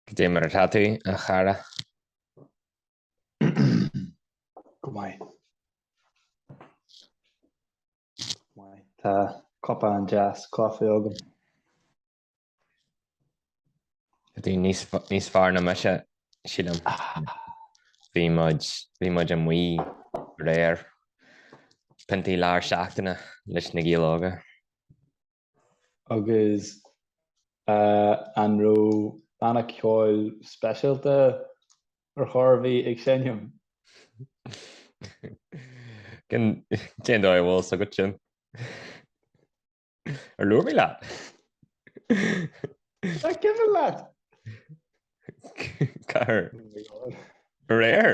Cad é mar atá tú, a chara. Go maith. Tá cupán deas coffee agam. Tá tú níos fearr ná mise, sílim. Bhí muid amuigh aréir piontaí lár seachtaine leis na Gaeil Óga. Agus an raibh banna ceoil speisialta ar chor ar bith ag seinm? Cén dóigh a bhfuil 's agat sin? Ar labhair mé leat? Nach cuimhin leat? Cá huair? Aréir?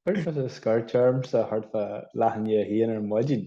Chuir tú scairt ormsa thart fá leath i ndiaidh a haon ar maidin.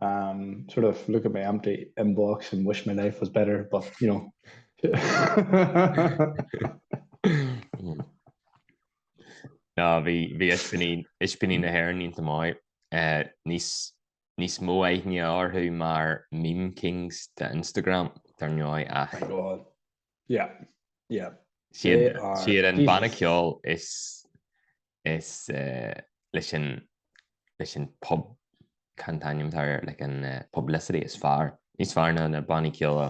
um, sort of look at my empty inbox and wish my life was better. But you know, no, vi vi ispinin ispinin na her in tamai uh, nis nis mo ni or who mar meme kings to Instagram turn your eye. Oh Yeah, yeah. Siad an banna ceoil is leis an pub cén t-ainm atá air, like an publicity is fearr, níos fearr ná na bannaí ceoil.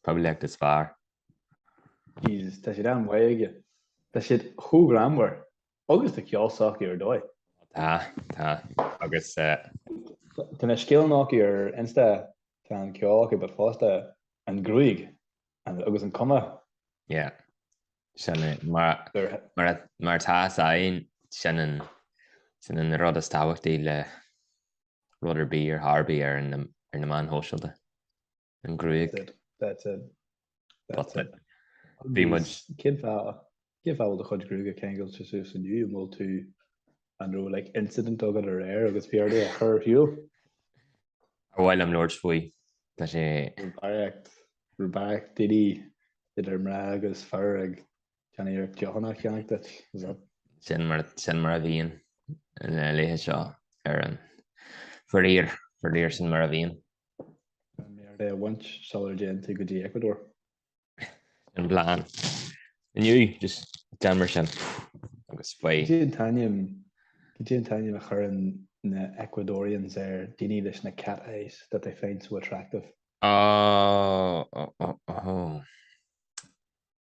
Poiblíocht is fearr. Jesus, tá siad an-mhaith aige. Tá siad chomh greannmhar agus tá an ceol s'acu ar dóigh. Tá, tá, agus eh. Tá na scileanna acu ar insta, tá an ceol acu but fosta an ghruaig agus an chuma. Yeah, sin é, mar atá 's againn, sin an, sin an rud is tábhachtaí le rud ar bith ar chor ar bith ar na meáin shóisialta. an ghruaig. That's it. That's it. That's it. Bhí muid... Cén fáth cén fáth a bhfuil do chuid gruaige ceangailte suas inniu? An bhfuil tú an raibh like incident agat aréir agus bhí ort é a chur ar shiúl? Char mhaith liom labhairt faoi. Tá sé... Raibh barraíocht, raibh barraíocht daoine idir mná agus fir ag déanamh iarracht deochanna a cheannach duit. Is that... Sin mar, sin mar a bhíonn na laethe seo ar an... Faraor, faraor sin mar a bhíonn. Gan méar é a bhaint sula dtéann tú go dtí Ecuador. An bhleán. Inniu, just gan mar sin. Agus faoi. Cad é an t-ainm a chuireann na Ecuadorians ar daoine leis na cat eyes that they find so attractive. Ó, ó, ó, ó.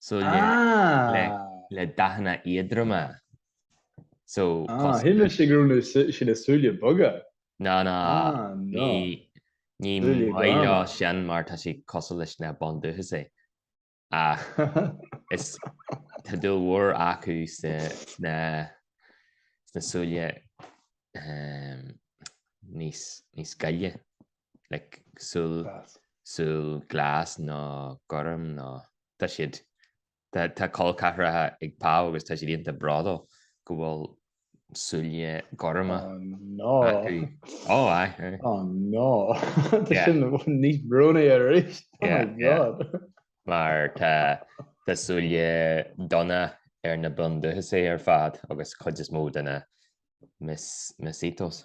súile le dathanna éadroma. So cosc. Shíl mé go raibh sé le súile beaga. No no, ní maith leo sin mar tá sé cosúil leis na bundúchasaigh. Ach is tá dúil mhór acu sna súile níos gile. like súil súil glas nó gorm nó tá siad tá col ceathracha ag Pau agus tá siad iontach bródúil go bhfuil súile gorma acu ó aye oh no tá sin níos brónaí arís oh my god mar tá tá súile donna ar na Bundúchasaigh ar fad agus cuid is mó de na Mesitos.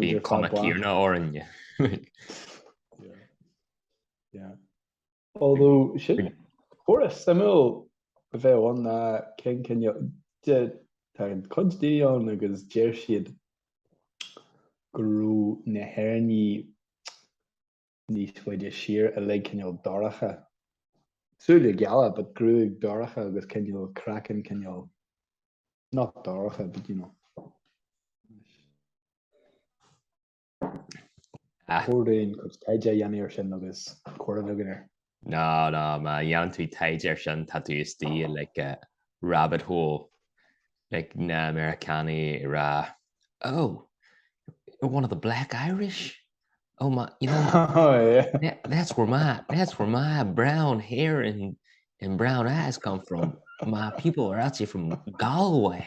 Bhí an cuma céanna orainn. Fuair a suimiúil a bheith ann ná cén cinneadh a dhein cuid di ann agus deir siad go raibh na hÉireannaigh níos faide siar uilig cineál dorcha, súile geala but gruaig dorcha agus cineál craiceann cineál not dorcha but you know chóir dúinn cuid taighde a dhéanamh ar sin agus comhrá a bheith againn air. Ná, ná, má dhéanann tú taighde air sin, tá tú istigh i, like, rabbit hole, like, na Meiriceánaigh ag rá, Oh, you're one of the black Irish? Oh, my, you know, oh, yeah. that, that's where my, that's where my brown hair and, and brown eyes come from. My people are actually from Galway.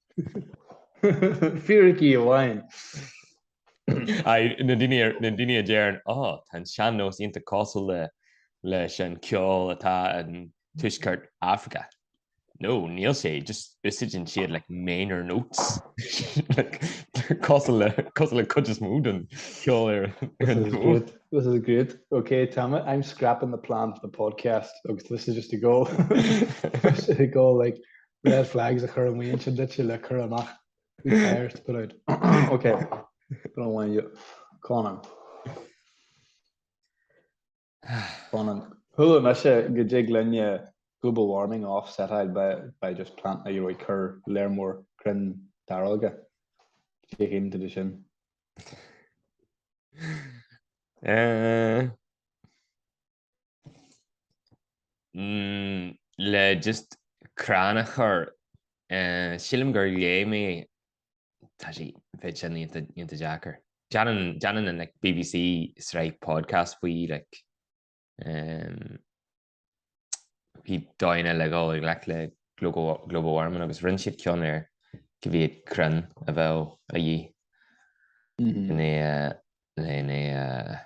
Fíricí amháin. Na daoine a deireann, Á, tá an sean-nós iontach cosúil leis an ceol atá in Tuaisceart Afraice. No, níl sé, just úsáideann siad like minor notes. Cosúil le cuid is mó den cheol ar an bhfód. This is great. Ok, tá mé, I'm scrapping the plan for the podcast agus this is just a go. This is a go like red flags a chur amuigh ansin duitse le cur amach who cares to put out. Ok, go raibh maith agat. Conan. Conan. Chuala mise go dtig linne global warming a offsetáil by just planting nó cur lear mór crainn dearga. Féach into the sin. Eh. le just crann a chur, sílim gur léigh mé, tá sé, bheadh sin iontach deacair. Déanann an BBC sraith podcast faoi, like, faoi dóigheanna le dul i ngleic le global warming agus rinne siad ceann ar cá mhéad crann a bheadh a dhíth in é, in é, in é,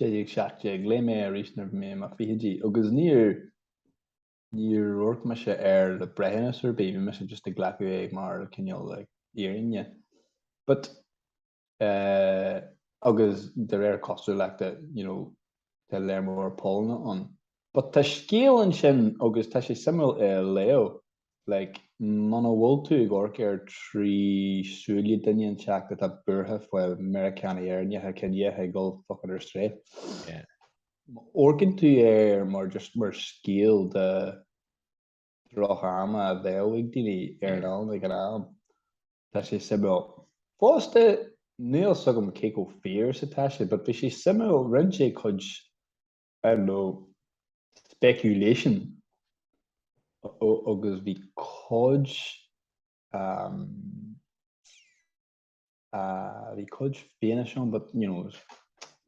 1617. Léigh mé é arís nuair a bhí mé i mo fichidí agus níor, níor amharc mise air le breithiúnas ar bith, bhí mise just ag glacadh é mar cineál an fhírinne. But, eh, agus de réir cosúlachta, you know, tá lear mór pollanna ann. But tá scéal ansin agus tá sé suimiúil é a léamh. Like, muna bhfuil tú ag amharc air trí súile duine inteacht atá buartha faoi Meiriceánaigh Éireannacha ciníocha ag dhul fuckin' ar strae, amharcann tú air mar just mar scéal de droch-ama a bheadh ag daoine ar an oileán ag an am. Tá sé suimiúil. Fosta, níl a fhios agam cé chomh fíor is atá sé, but bhí sé suimiúil, roinn sé a chuid, I don't know speculation agus bhí cuid bhí cuid fianaise ann but you know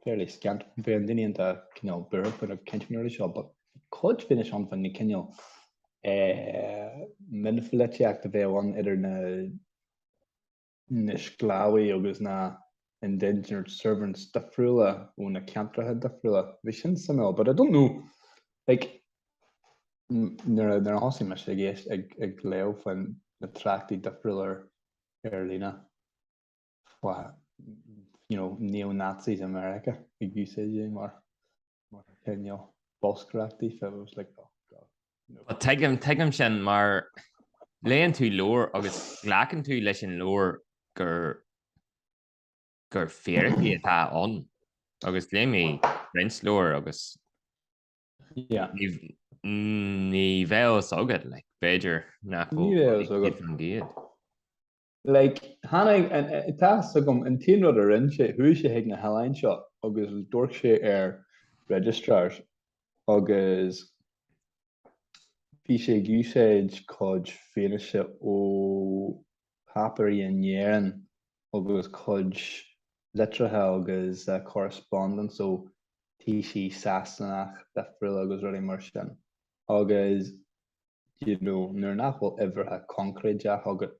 fairly scant bíonn daoine iontach cineál buartha faoi na cinnteoirí seo but bhí cuid fianaise ann faoin gcineál mionpholaitíocht a bheadh ann idir na na sclábhaithe agus na indentured servants difriúla ó na ceantracha difriúla. Bhí sin suimiúil but I don't know like nuair a thosaigh mise ag éist ag ag léamh faoin na tráchtais difriúla ar ar líne faoi you know neo-Nazis i Meiriceá ag úsáid é mar Tuigim, tuigim sin mar léann tú leabhar agus glacann tú leis an leabhar gur, gur fíricí atá ann agus léigh mé roinnt leabhar agus ní bheadh a fhios agat like b'fhéidir nach bhfuil a fhios agat. Like, tháinig, tá a fhios agam, an t-aon rud a rinne sé, chuaigh sé chuig na hoileáin seo agus d'amharc sé ar registrars agus bhí sé ag úsáid cuid fianaise ó páipéirí in Éirinn agus cuid litreacha agus correspondence ó taoisigh Sasanach difriúla agus rudaí mar sin agus you know, nuair nach bhfuil uimhreacha coincréideach agat,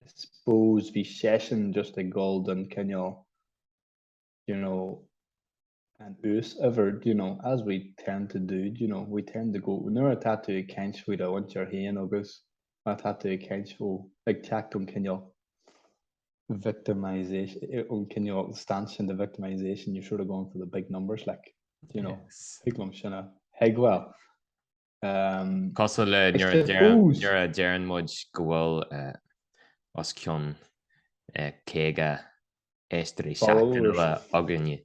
I suppose bhí seisean just ag dul don cineál, you know, an uas-uimhir, do you know, as we tend to do, do you know, we tend to go, nuair atá tú ag caint faoi do mhuintir féin agus atá tú ag caint ó, ag teacht ón cineál victimisation, ón cineál stanchion de victimisation, you're sort of going for the big numbers, like, do you know, Yes. thig liom sin a, thig, well, Cosúil le nuair a deireann muid go bhfuil os cionn 50 éisteoirí seachtainiúla againne,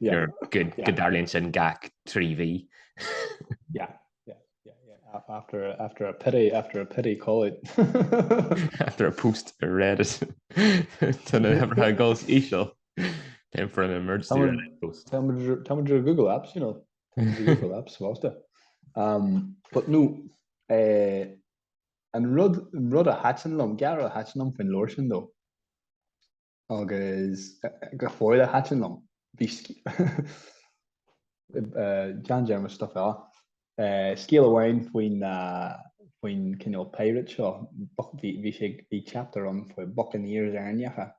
go dtarlaíonn sin gach trí mhí. Yeah, yeah, after a pity, after a pity coded. After a post ar Reddit. Tá na huimhreacha ag dul síos, íseal. Time for an emergency Reddit post. Tá muid ar Google Apps, you know. Thank you for that, sásta. But no, an rud, an rud a thaitin liom, gearr a thaitin liom faoin leabhar sin though, agus go fóill a thaitin liom, bhí John Jarmusch stuff fell off, scéal amháin faoin, faoin cineál pirate seo, bhí sé, bhí chapter ann faoi buccaneers Éireannacha,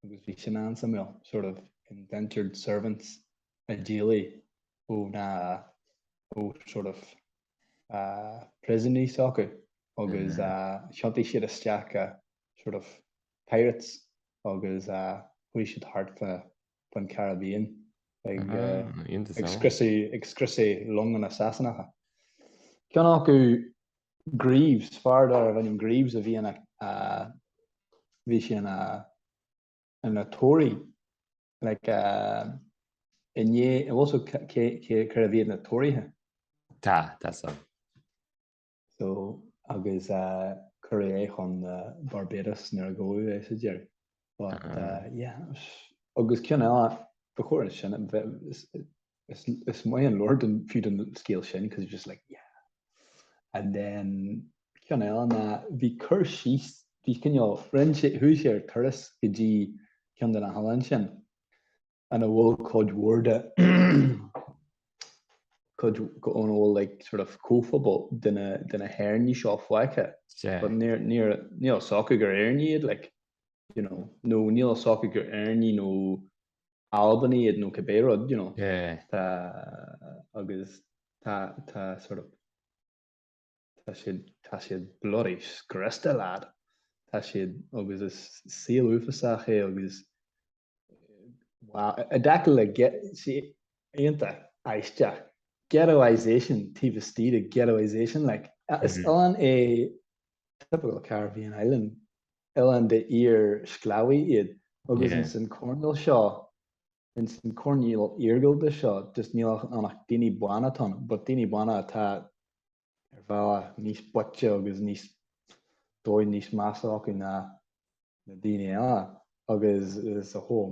agus bhí sin an-suimiúil, sort of indentured servants a d'éalaigh ó na, ó sort of príosúnaí s'acu agus thiontaigh siad isteach i sort of pirates agus chuaigh siad thart faoin Caribbean ag scriosadh longa na Sasanacha. Ceann acu Greaves, fear darbh ainm Greaves a bhí ina, bhí sé ina, ina Tory, like, i ndiaidh, bhfuil a fhios agat cérbh iad na Tóraithe? Tá, tá a fhios. So, agus cuireadh é chun Barbados nuair a gabhadh é sa deireadh. But uh, yeah, agus ceann eile ba chóir is sin is maith an leabhar don fiú don scéal sin because it's just like yeah and then ceann eile ná bhí cur síos bhí cineál rinne sé chuaigh sé ar turas go dtí ceann de na hoileáin sin ina bhfuil cuid mhór de cuid ina bhfuil like sort of comhphobal de na de na hÉireannaigh seo fágtha yeah but níor níor níl a fhios acu gur Éireannaigh iad like you know nó níl a fhios acu gur Éireannaigh nó Albanaigh iad nó cibé rud you know yeah tá agus tá tá sort of Tá siad, tá siad bloody scriosta, lad. Tá siad, agus is saol uafásach é agus, wow, i dtaca le get, sé, iontach, aisteach, ghettoisation taobh istigh de ghettoisation, like, is mm-hmm. oileán é typical Caribbean island, oileán de iarsclábhaithe iad, agus yeah. ins an coirnéal seo, Ins an coirnéal iargúlta seo just níl ann ach daoine bána atá ann, but daoine bána atá ar bhealach níos boichte agus níos dóigh níos measa acu ná na daoine eile agus it's a whole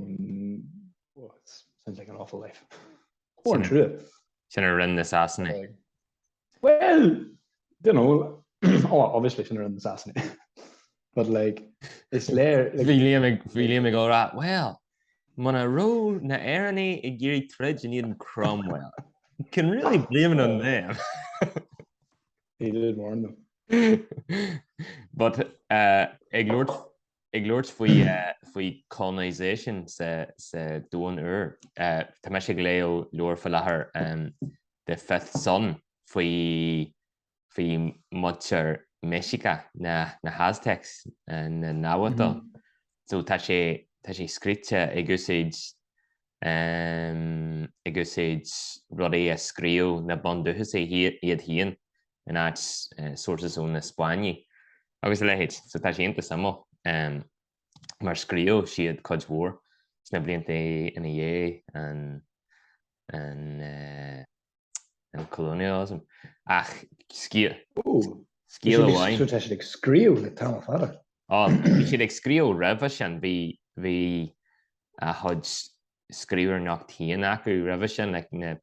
oh it sounds like an awful life. Mór an trua. Sin a rinne na Sasanaigh. Bhuel, don't know, oh, obviously sin a rinne na Sasanaigh. But like, is léir... Bhí Liam ag, bhí Liam ag rá, well, muna raibh na Éireannaigh ag iarraidh troid in éadan Cromwell, can't really blame it on them. He did warn them. But, uh, ag labhairt Ag labhairt faoi faoi faoi colonisation sa Domhan Úr. Tá mise ag léamh leabhar faoi láthair, The Fifth Sun, faoi faoi muintir Mexica, na na Aztecs, na Nahuatl. So tá sé tá sé scríte ag úsáid ag úsáid rudaí a scríobh na bundúchasaigh iad féin in áit sources ó na Spáinnigh agus a leithéid, so tá sé iontach suimiúil mar scríobh siad cuid mhór sna blianta ina dhiaidh an colonialism ach scéal scéal amháin. So tá siad ag scríobh le tamall fada. Ó, bhí siad ag scríobh roimhe sin, bhí a chuid scríbhneoireacht féin acu roimhe sin, like na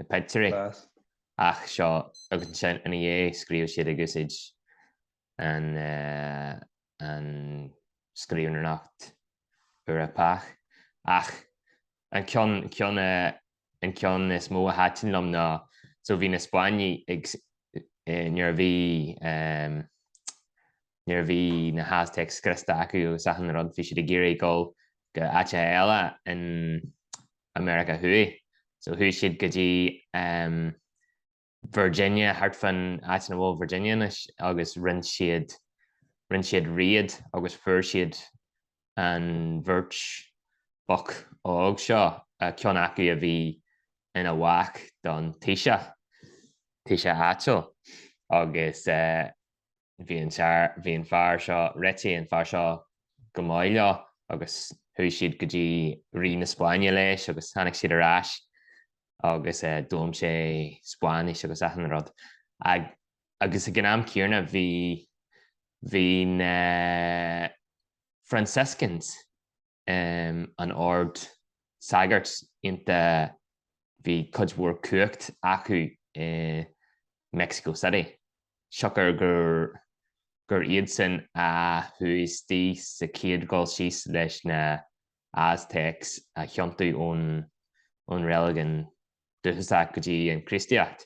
pictiúirí. Ach seo, agus ansin ina dhiaidh, scríobh siad ag úsáid an scríbhneoireacht Eorpach. Ach an ceann, ceann, an ceann is mó a thaitin liom ná, so bhí na Spáinnigh ag, nuair a bhí, nuair a bhí na hAztec scriosta acu agus achan rud, bhí siad ag iarraidh dul go áiteacha eile in America Thuaidh. So chuaigh siad go dtí ehm Virginia, thart fan áit ina bhfuil Virginia anois agus rinne siad, rinne siad raid agus fuair siad an bheirt boc óg seo, ceann acu a bhí ina mhac don Taoiseach, Taoiseach áitiúil agus eh, Bhí an tear, bhí an fear seo, réitigh an fear seo go maith leo agus chuaigh siad go dtí Rí na Spáinne leis agus tháinig siad ar ais agus eh d'fhoghlaim sé Spáinnis agus achan rud ag agus ag an am céanna bhí bhí na Franciscans an ord sagairt iontu bhí cuid mhór cumhacht acu i Mexico City. Siocair gur iadsan a chuaigh isteach sa chéad dhul síos leis na Aztecs a thiontú ón reiligiún dúchasach go dtí an Chríostaíocht.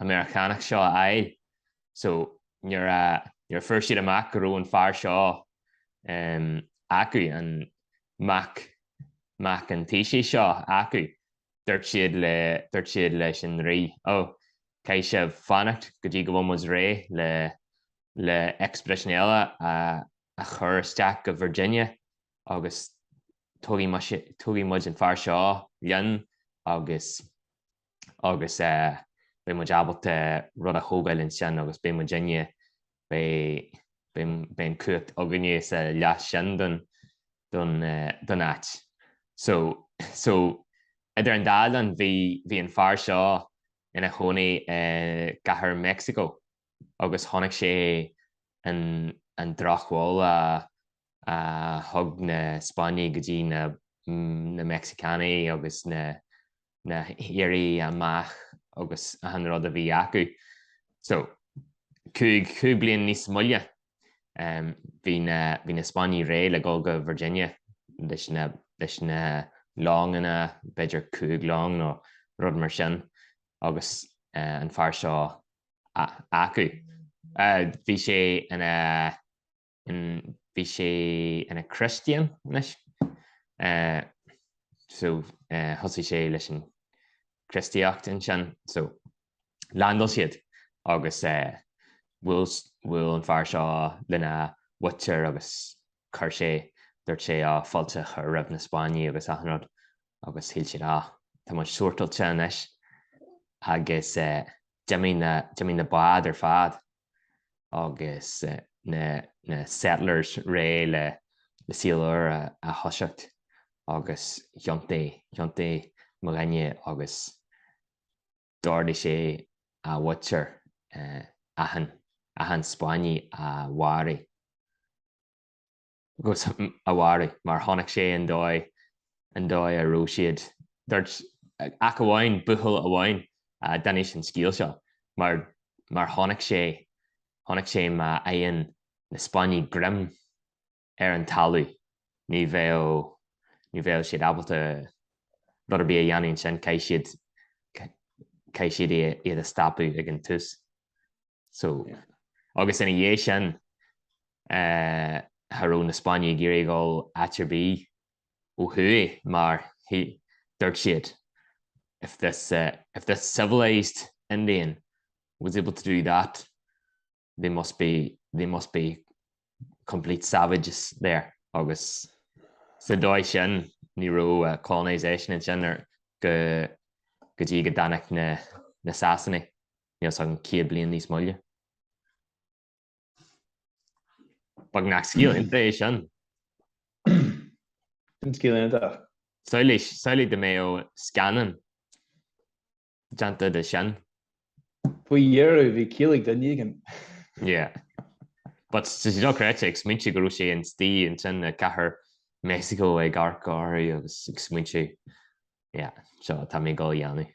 an Meiriceánach seo a fháil. So, nuair a, nuair a fuair siad amach go raibh an fear seo em, acu, an mac, mac an Taoisigh seo acu, dúirt siad le, dúirt siad leis an Rí, oh, caithfidh sé fanacht go dtí go bhfuil muid réidh le, le expedition eile a, a chur isteach go Virginia agus tugfaidh muid, tugfaidh muid an fear seo linn agus. agus beidh muid ábalta rud a thógáil ansin agus beidh muid in, beidh an cumhacht againne sa leath sin den áit. So, so, idir an dá linn, bhí, bhí an fear seo ina chónaí i gcathair Mheicsiceo agus chonaic sé an, an drochbhail a, a thug na Spáinnigh go dtí na, na Meicsiceánaigh agus na, na hIaraí amach agus achan rud a bhí acu. So, cúig, cúig bliain níos moille, bhí na, bhí na Spáinnigh réidh le dhul go Virginia leis na, leis na longanna, b'fhéidir cúig long nó rud mar sin agus an fear seo acu, bhí sé ina, Bhí sé ina Christian anois so thosaigh sé leis an Christaíocht ansin so leaindeáil siad agus bhuail an fear seo lena mhuintir agus chuir sé dúirt sé á fáilte a chur roimh na Spáinnigh agus achan rud agus shíl siad á tá muid sortailte anois agus d'imigh na d'imigh na báid ar fad agus na settlers réidh le saol úr a thoiseacht agus thiontaigh mo dhuine agus d'ordaigh sé a mhuintir achan Spáinneach a mharú. agus a mharú, mar chonaic sé an dóigh, an dóigh a raibh siad. Dúirt ach amháin, buachaill amháin a d'inis an scéal seo, mar, mar chonaic sé, chonaic sé má fhaigheann na Spáinnigh greim ar an talamh, ní bheadh, ní bheadh siad ábalta rud ar bith a dhéanamh ansin, caithfidh siad, caithfidh siad iad a stopadh ag an tús. So, agus ina dhiaidh sin, cha raibh na Spáinnigh ag iarraidh dhul áit ar bith ó thuaidh mar dúirt siad, if this, if this civilised Indian was able to do that, they must be, they must be complete savages there. Agus sa dóigh sin, ní raibh colonisation ansin go dtí go dtáinig na Sasanaigh. níl sa an céad bliain níos moille beagnach. Scéal iontach é sin. Sin scéal iontach. Shílfeá, shílfeá go mbeadh scannán déanta de sin. Faoi dheireadh bhí ciall ag duine éigin. Yeah. But tá sé dochreidte ag smaointiú go raibh sé ina shuí ansin i gcathair Meicsiceo ag amharc orthu agus ag smaointiú, yeah, seo, tá mé ag dul a dhéanamh.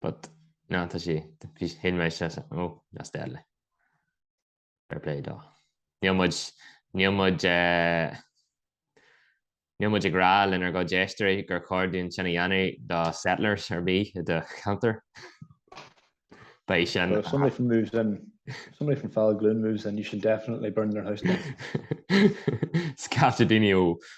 But no tá sí bhí sheinn mé seo sa ó that's deadly. Fair play dó. Níl muid níl muid eh níl muid ag rá lenár gcuid éisteoirí gur chóir dúinn sin a dhéanamh do settlers ar bith i do cheantar. Beidh sin Well, if somebody from moves in, if somebody from Fallagloon moves in, you should definitely burn their house down. Scaifte daoine ó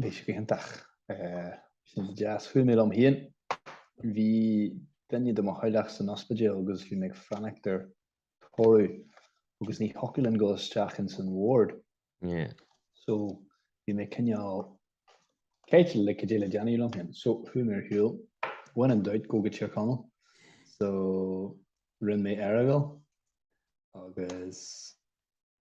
Bhí sé go hiontach. Sin just chuaigh mé liom féin. Bhí duine de mo theaghlach san ospidéal agus bhí mé ag fanacht ar thoradh agus ní thiocfadh liom dul isteach ins an ward. So bhí mé cineál caillte le cad é le déanamh liom féin. So chuaigh mé ar shiúl. When in doubt gabh go Tír Chonaill. So rinne mé Earagail agus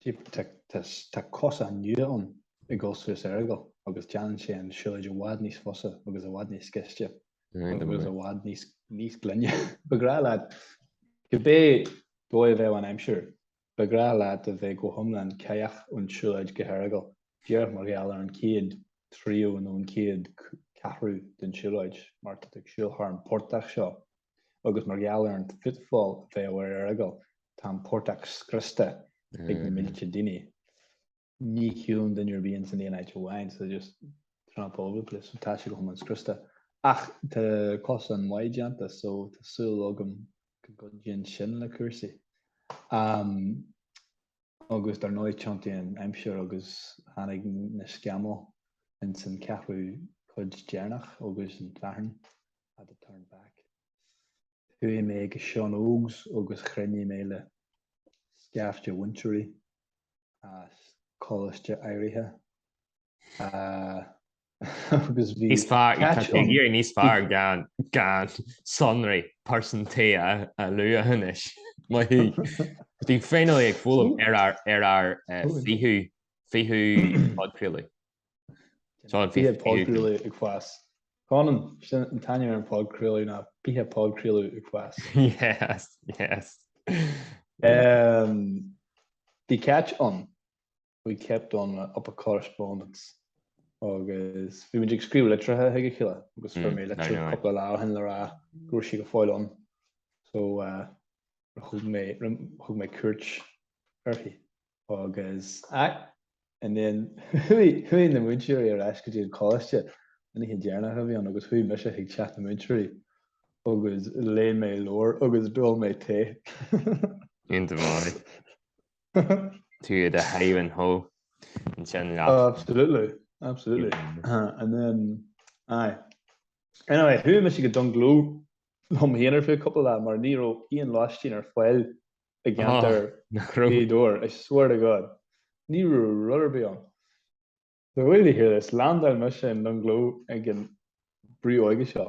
Tá cosán nua ann ag dul suas Earagail agus déanann sé an siúlóid i bhfad níos fusa agus i bhfad níos gaiste agus i bhfad níos glaine. Ba ghnách leat, cibé dóigh a bheadh an aimsir, ba ghnách leat a bheith go hiomlán cáidheach ón tsiúlóid go hEaragail, díreach mar gheall ar an chéad tríú nó an chéad cheathrú den siúlóid, mar tá tú ag siúl thar an portach seo agus mar gheall ar an footfall a bheadh ar Earagail, tá an portach scriosta ag na mílte daoine. Ní shiúlann duine ar bith ins an aon áit amháin, so they just tramp all over the place, so tá sé go hiomlán scriosta. Ach tá cosán maith déanta, so tá súil agam go gcuidíonn sin le cúrsaí. Agus dar ndóigh, thiontaigh an aimsir agus tháinig na scamaill ins an ceathrú cuid deireanach agus an fhearthainn, had to turn back. Chuaigh mé go Sean Ógs agus chruinnigh mé le scaifte múinteoirí as coláiste áirithe agus bhí Níos fearr, tá tú ag iarraidh níos fearr gan sonraí pearsantaí a lua anois, maith thú. Bhí finally ag foghlaim ar ár 20ú podchraoladh. Tá an fiche podchraoladh ag fás. Conan, sin an t-ainm ar an podchraoladh ná fiche podchraoladh ag fás. Yes, yes. Um, bhí catch on. We kept on up a correspondence. agus bhí muid ag scríobh litreacha chuig a chéile agus fuair mé litir cúpla lá ó shin le rá go raibh sí go fóill ann, so uh, thug mé thug mé cuairt uirthi. Agus and then chuaigh na múinteoirí ar ais go dtí an coláiste an oíche deireanach a bhí ann agus chuaigh mise chuig teach na múinteoirí agus léigh mé leabhar agus d'ól mé tae. Iontach maith. Tú ar do sháimhín só ansin leat. Oh, absolutely. Absolutely. And then, aye. Anyway, chuaigh mise go Dungloe liom féin ar feadh cúpla lá mar ní raibh aon lóistín ar fáil i gceantar Ghaoth Dobhair, I swear to God, ní raibh rud ar bith ann. Wait till you hear this, landáil mise in Dungloe ag an brú óige seo.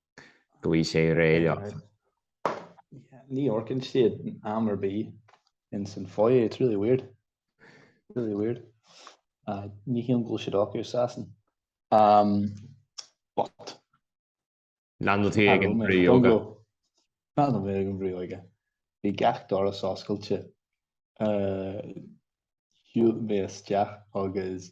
go bhfuil sé réidh. Ní amharcann siad am ar bith ins an foyer, it's really weird, really weird. Ní shílim go bhfuil siad acu i Sasain, but. Landáil tú ag an bhrú óige. Landáil mé ag an bhrú óige. Bhí gach doras oscailte, shiúil mé isteach agus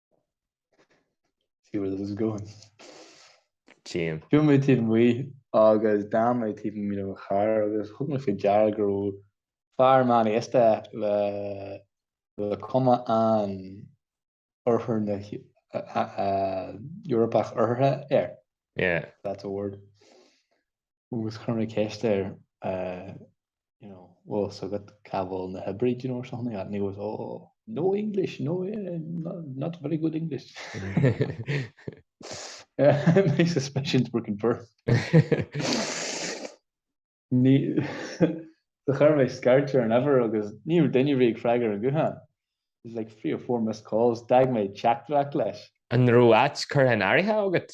see where this is going. Tchím. Chuaigh mé taobh amuigh agus d'fhan mé taobh amuigh le mo charr agus thug mé faoi deara go raibh fear meánaosta le le cuma an Oirthear na hEorpach Oirthirthe air. Yeah. That's a word. Agus chuir mé ceist air you know, bhfuil fhios agat cá bhfuil na hoibrithe, you know, or something like that, and he goes, oh, no English, no, eh, not, not very good English. Eh, my suspicions were confirmed. Then chuir mé scairt ar an uimhir agus ní raibh duine ar bith ag freagairt an guthán. There's like three or four missed calls, d'fhág mé teachtaireacht leis. An raibh áit curtha in áirithe agat?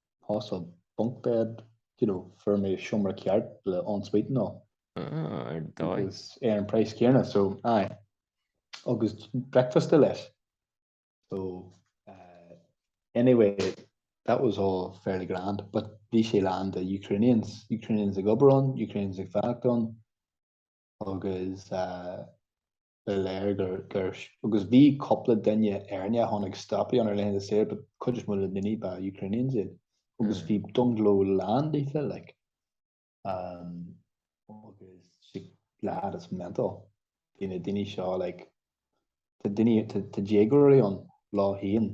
hostel bunk bed, you know, fuair mé seomra ceart le en suite and all. Ah, ar dóigh. Agus ar an praghas céanna, so, aye. Agus bricfeasta leis. So, uh, anyway, that was all fairly grand, but bhí sé lán de Ukrainians, Ukrainians ag obair ann, Ukrainians ag fanacht ann, agus, uh, ba léir. Agus bhí cúpla duine Éireannaigh a tháinig ag stopadh ann ar laethanta saoire, but cuid is mó de na daoine ba Ukrainians iad. Agus bhí Dungloe lán díofa like. Um, agus sílim it is mental. Bhí na daoine seo like tá daoine tá déagóirí an lae aon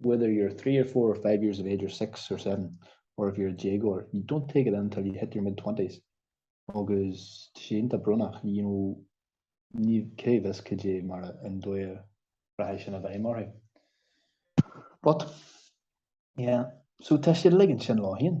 whether you're three or four or five years of age or six or seven or if you're a déagóir, you don't take it in until you hit your mid twenties agus tá sé iontach brónach, you know, níl a fhios cad é mar an dóigh a rachaidh sin i bhfeidhm orthu. But, yeah, so tá siad ag ligean sin leo féin.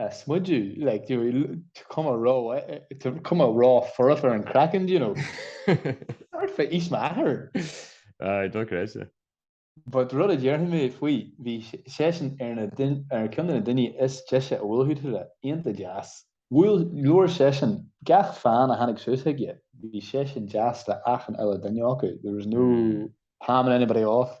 smudu like chun go mba rud, chun go mba rud for for an craic and you know start for each matter I don't crazy but rud a déarfaidh mé faoi, bhí seisean ar na ar cheann de na daoine is deise a bhuail tú leis iontach deas bhuel labhair seisean gach fan a tháinig suas aige bhí seisean deas le achan uile duine acu there was no palming anybody off